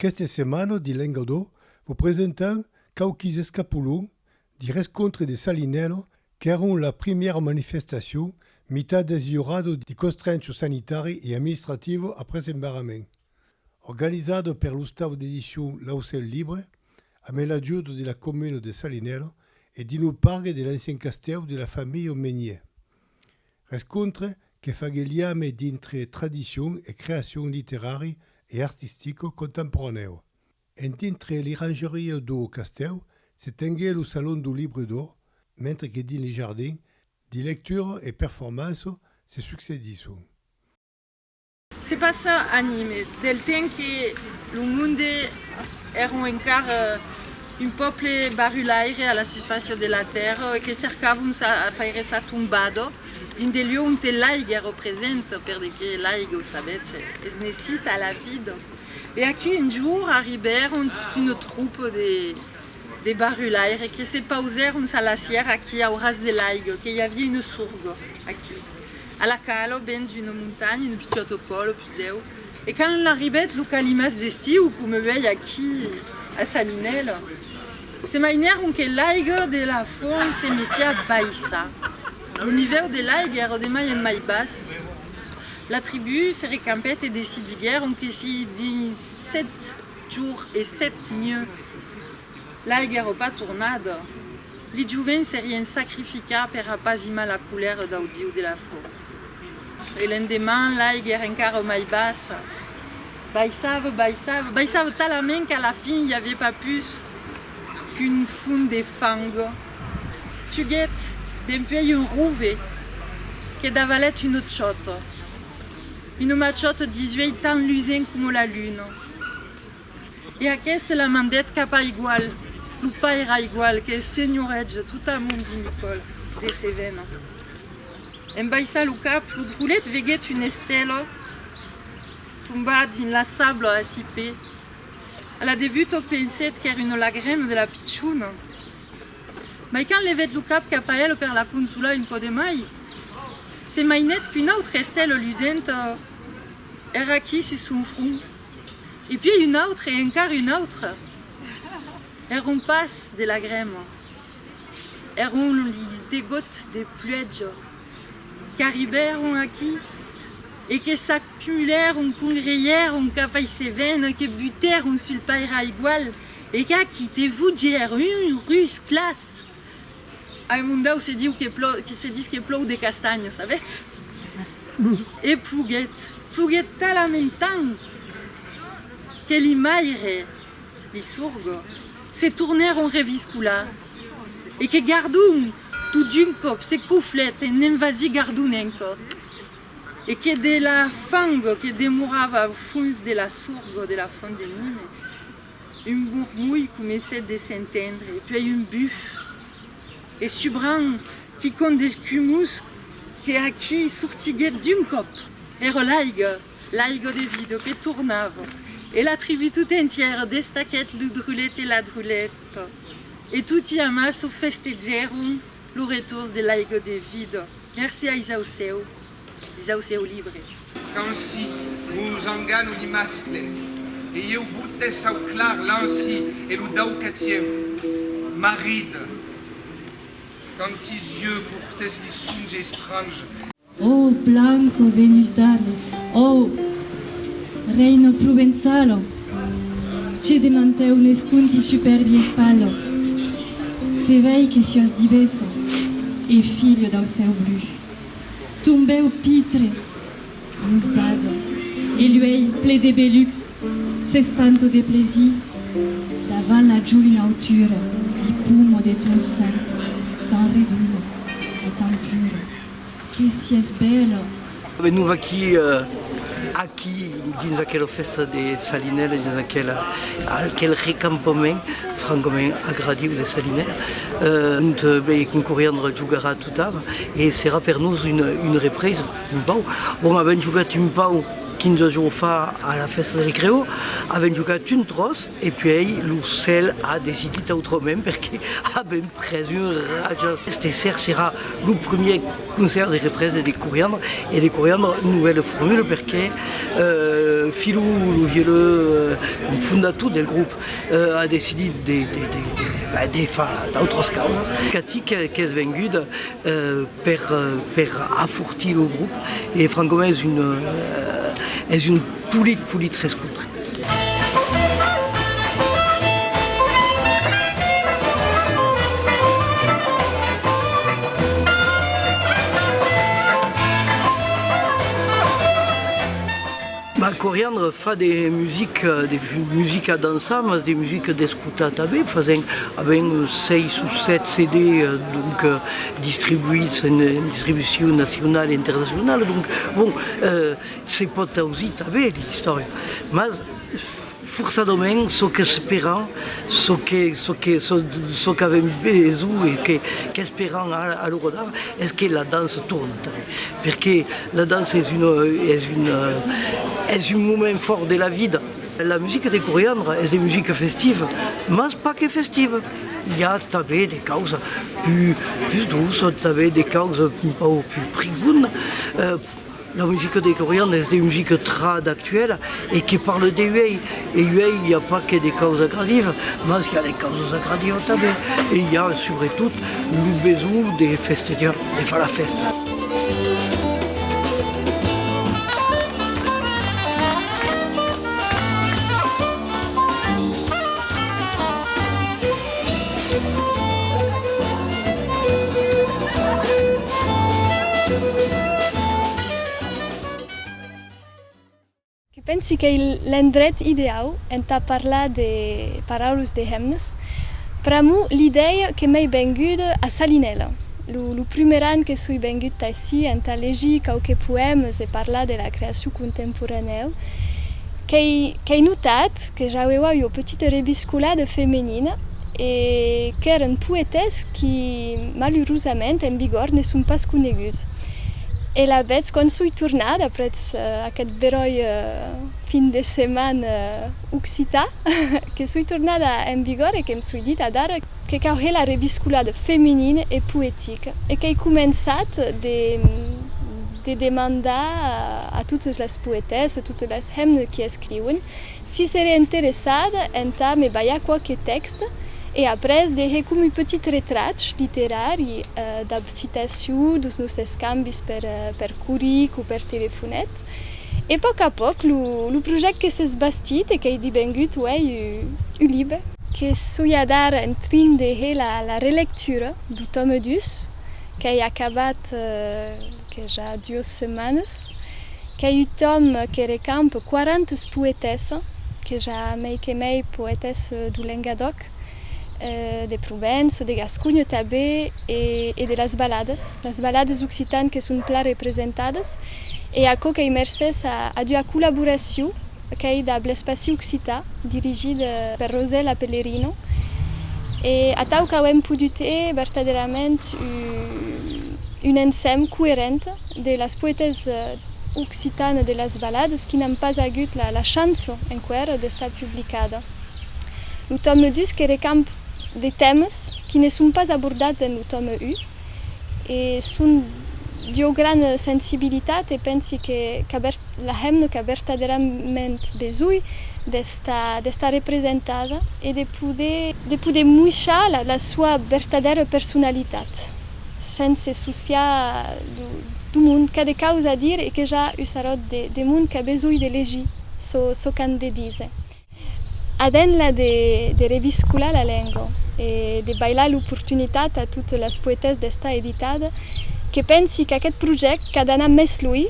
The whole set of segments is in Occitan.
Aqueste semana de Lengadó vos presentam quauquis escapolons de rescontre de Salinero qu'èron la primièra manifestacion mitat desliorada de constrencho sanitari e administrativa après embarrament. Organizado per l'ostau d'edicion L'Aucèl Libre, amé l'ajut de la comuna de Salinero e d'inou pargue de l'ancien castèu de la familha Menier. Rescontre que fague liame dintre tradicion e creacion literari e artistico contemporanèu. En dintre l'irangeria dou castèu se tengue lo Salon dou Libre do, mentre que dins li jardin, di lectura e performanço se succedisson. Se passa a Nîmes, del temps que lo monde èron encara un pòble barulaire a la susfàcia de la tèrra e que cercàvon sa faire sa tombada dins de lieu onte l'aiga èra presenta, perdeque l'aiga, o sabètz, es necita a la vida. E aquí un jorn arribèron tota una tropa de barulaires que se pausèron sa lacièra aquí au ras de l'aiga, que i avia una sorga aquí. A la cal, au ben d'una montanha, un pichòt au còl, opus deu. E quand l'arribèt lo calimàs d'estiu, coma uèi aquí a Sant Inèl, se mainèron que l'aiga de la font se metiá a baissar, lo nivèu de l'aiga èra de mai en mai bas, la tribú se recampèt e decidiguèron que si dins sèt jours e sèt nuets L'alguèro pas tornat. Li jovents s'erien sacrificats per apazimar la colèra dau diu de la fò. E l'endeman l'aiga èra encara mai bassa. Baissava, baissava, baissava talament qu'a la fin i aviá pas pus qu'un fum de fang. Fuguèt dempuèi un rove que davalèt un ochòt. Una machòta disuèi tan lusent coma la luna. E aqueste la mandèt cap a Igual, lo pair a Igual, que es senhoretge de tot amont de Nicòl de Cevena. En baissar lo cap, lo drollet veguèt una estèla tombar dins la sabla a si pè. A la debuta pensèt qu'èra una lagrema de la pichona, mai quand levèt lo cap cap a ela per la consolar un cò de mai, se mainèt qu'una autra estèla lusenta èra aquí sus son front. E pièi un autre e encara un autre. Èra un pas de lagrèma, èra un degot de pluèja qu'arribèron aquí e que s'acumulèron, congreièron cap a Isevèn e que butèron sul pairalh igual e qu'aquí te vogèr un rus clas. Ai mondau se diu que plò que se dis que plòu de castanhas avètz? e ploguèt ploguèt talament tant que li maire li sorgo se tornèron reviscolar e que gardon tot d'un còp se coflèt e ne'n vasi gardon enco e que de la fango que demorava au fons de la sorgo de la font de nime Un bormolh comencèt de s'entendre, e puèi un buf, e subran quicòm d'escumós que aquí sortiguèt d'un còp. Èra l'aiga, l'aiga de Vido que tornava, e la tribú tota entièra destaquèt lo drulet e la druleta, e toti amassa festejèron lo retors de l'aiga de Vido. Merci ais au cèu! Dins au sieu libre. Qu'ansi lo zangano li mascle e ieu bote sau clar l'ansi e lo dau que tien marid quand tis ieu portes li songe estrange. Ò blanco Venus d'Arles, ò reino provençalo, ce demanteu nes conti superbi espallo, se vei que sios divessa e filho dau seu bru. Tombèu pitre nos bada e l'uèlh ple de belucs s'espanto de plaisir davant la joina autura di pum o de ton sen tan redona e tan pura. Que sies bèla! Me nova aquí, aquí dins aquela fèsta de Salinèla, dins aquela, aquel recampament francament agradiu de Salinèla, ont, ben, concoriandra jogarà E serà per nos una represa un pauc. Bon, avèm jogat un pauc 15 jorns fa a la fèsta del Creó, avèm jogat un tròç e puèi lo cèl a decidit autrament perque avèm pres un rajat. Este ser serà lo primièr concèrt de represa de Coriandre e de Coriandre novèla formula perque Filou, lo violó fondator del grop, A decidit de de far d'autras causas. Cati qu'es venguda per afortir lo grop e francament es un polit polit rescontre. Mas Coriandre fa de musica, de musica dançar, mas de musica d'escotar tanben, fasent avèm seis o sèt CD donc distribuïts en distribucion nacionala e internacionala, donc bon se pòt ausir tanben l'istòria, mas. Forçadament, çò qu'esperan, çò qu'avèm besonh e qu'esperan a lo rodar es que la dança torne tanben, perque la dança es un moment fòrt de la vida. La musica de Coriandra es de musica festiva, mas pas que festiva, i a tanben de causa pus doça, tanben de causa un pauc pus prigonha. La musica de Corian es de musica trad actuela e que parle de uèi. E uèi i a pas que de causa gradiva, mas i a de causas agradiva tanben e i a subretot lo besonh de festejar, de far la fèsta. Que pensi qu'ei l'endret ideau entà parlar de paraules de hemnes. Pr'amor, l'idèia que m'ei venguda a Salinèla, lo prumèr an que soi vengut aicí, entà legir quauques poèmes e parlar de la creacion contemporanèu, qu'ei notat, Que j'aueua ua petita rebiscolada femenina e qu'èren poetès qui, malurosament, en vigor ne son pas coneguts. E la vetz quand soi tornada aprètz aquest beròi fin de setmana occità, que soi tornada en vigor e que'm soi dit adara que cauhè la rebiscolada femenina e poetica e qu'ei començat de de demandar a totes les poetèsses, a totes les hemnes qui escriuen, Si seré interessat entà me balhar quauque tèxt e après de hè comu petit retrach literari dab citaciu dus nos escambis per per coric o per telefonet e pòc a pòc lo lo project que s'es bastit e qu'ei dibengut uèi u u libe, que soi adar en trin de hè la la relectura do tòme dus qu'ei acabat. que ja duas setmanes qu'a eu Tom que recampe quarantes poetèsses, que ja mei que mei poetèsses do Lengadòc, de Provènç o de Gasconha tabé, e de las balades, las balades occitanes que son plan representades, e aquò qu'ei mercés a ua collaboracion qu'ei dab l'espaci occitan dirigit per Rosèla Pellerino e atau qu'auem podut hè vertadèrament un ensèm coerent de las poètes occitanes de las balades qui n'an pas agut la chance enqüèr d'estar publicada. Lo tòme 2 que recamp de tèmes qui ne son pas abordats en lo tòme 1. E son d'ua gran sensibilitat e pensi que la hemna qu'a vertadèrament besonh d'estar representada e de poder muishar la sua vertadèra personalitat, sense sociar d'o mond qu'a de causa a dire e que ja u saròt de mond qu'a besonh de legir çò qu'an de díser. A dens la de de reviscular la lenga e de bailar l'oportunitat a totes las poetèsses d'estar editades, que pensi qu'aqueth projèct qu'a d'anar mès luï,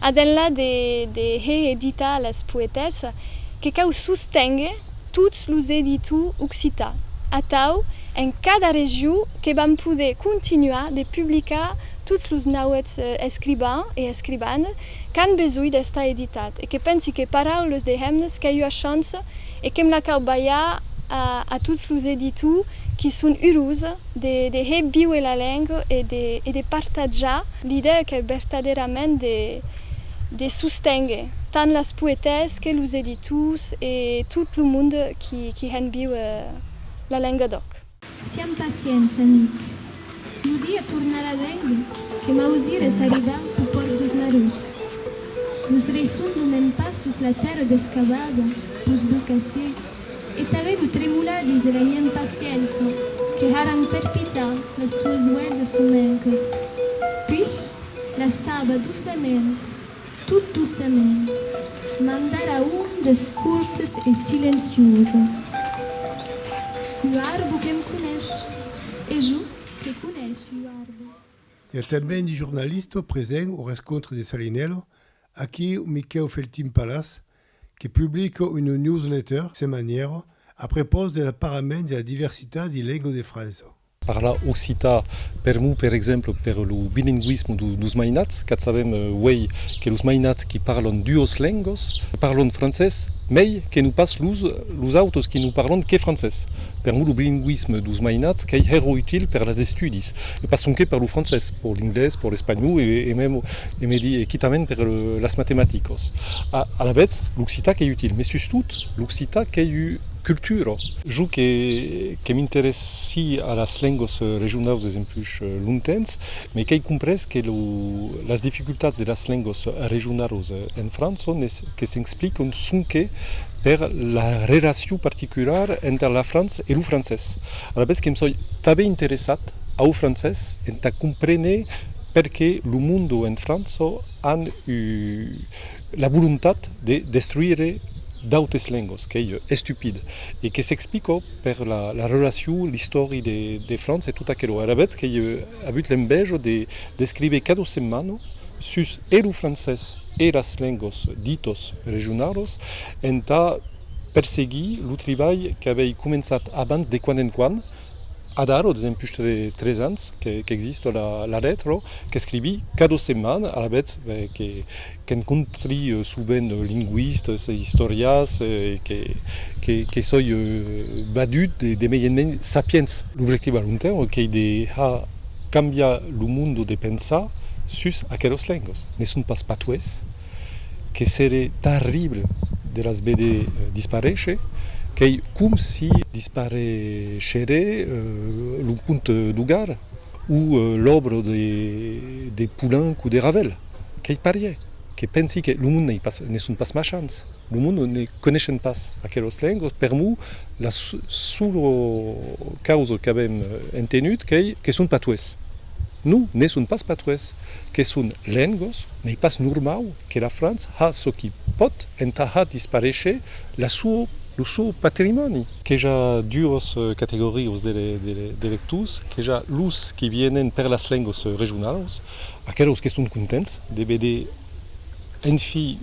a dens la de de hè editar las poetèsses, que cau sostenguer tots los editors occitans, atau en cada region que vam poder continuar de publicar tots los nauets escribans e escribanes Qu'an besonh d'estar editat e que pensi que Paraules de hemnes qu'a ua chance e que'm la cau balhar a tots los editors qui son urós de hè víuer la lenga e de partatjar l'idèa qu'è vertadèrament de sosténguer tant las poetèses que los editors e tot lo monde qui hèn víuer la lenga d'òc. Siam pacients, amic. Lo dia tornarà bèng que m'ausires arribar pus pòrt dus marus. Los reisson lo mèn pas sus la tèrra descavada, pus bo qu'assé, e tanben lo tremolar dins de la mia impaciença que haràn perpitar las tuas uelhas somenques. Puish, la saba doçament. Tot doçament, mandara un des cortes e silencioses. Ua arbo que'm conesh, e jo que conesh ua arbo. I a tanben de jornalistes presents au rescontre de Salinello, aquí un Miquèu Feltin Palas, que publica una newsletter semanièra a prepòs de l'aparament de la diversitat de lenga de França. Parla occitan per mo, per exemple, per lo bilingüisme dos mainats, qu'a sabem uèi que los mainats qui parlon duos lengos parlon francés mei que no pas los autos qui no parlon que francés. Per mo lo bilingüisme dos mainats qu'ei hèro util per las estudis e pas sonque per lo francés, per l'inglés, per l'espanhòu e mem e me di e quitament per las matematicos. Alavetz l'occitan qu'ei util, mès sustot l'occitan qu'ei ua cultura. Jo que Que m'interessi a las lengas regionaus des empuis lontens, me qu'ei comprés que las dificultats de las lengas regionaus en França que s'explican sonque per la relacion particular enter la França e lo francés. Alavetz que me soi tanben interessat au francés entà comprene perqué lo monde en França an La volontat de destruire d'autes lengos qu'ei estupid e que s'explica per la relacion, l'istòri de França e tot aquelo. Alavetz qu'ei avut l'enveja d'escriver cada setmana sus e lo francés e las lengos ditas regionalas entà perseguir lo tribalh qu'avei començat abans de quant en quant, Adaro, de temps push de tres ans qu'existe la letra, qu'escrivi cada setmana, alavetz qu'encontri sovent lingüistas e istorians e que soi badut de mei en mei sapients. L'objectiu a long temps qu'ei de har cambiar lo monde de pensar sus aquelas lengas. Ne son pas patuès. Que seré tarrible de las veder disparéisher, qu'ei com si dispareisheré lo conte d'Hogar o l'òbra de Poulenc o de Ravel. Qu'ei parier que pensi que lo monde n'ei pas, ne son pas machants, lo monde ne coneishen pas aquelos lengos, per mo la sola causa qu'avem entenut qu'ei que son patuès. Non, ne son pas patuès, que son lengos. N'ei pas normau que la França ha çò qui pòt entà har disparéisher la suo, lo suo patrimòni. Queja duos categorios de lectors, queja los qui vienen per las lengos regionalos, aquelos qu'eston contents de veder enfin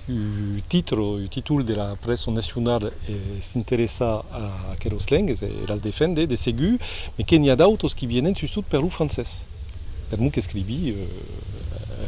un titre o un títol de la prèssa nacionala s'interessar a aquelos lengues e las defendre de segur, mes que n'i a d'autos qui vienen sustot per lo francés, per mon qu'escrivi.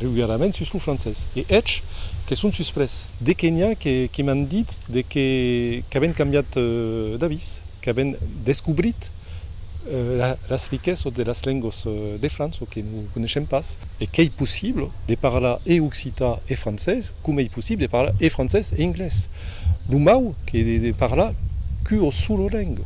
regularament sus lo francés e hèt que son susprés. De que n'i a que m'an dit de que qu'avèn cambiat d'avís, qu'avèn descobrit las riquesas de las lengas de França que non coneishem pas. E qu'ei possible de parlar e occitan e francés. Coma ei possible de parlar e francés e inglés? Lo mau que de ne parlar qu'u o sulo lengo.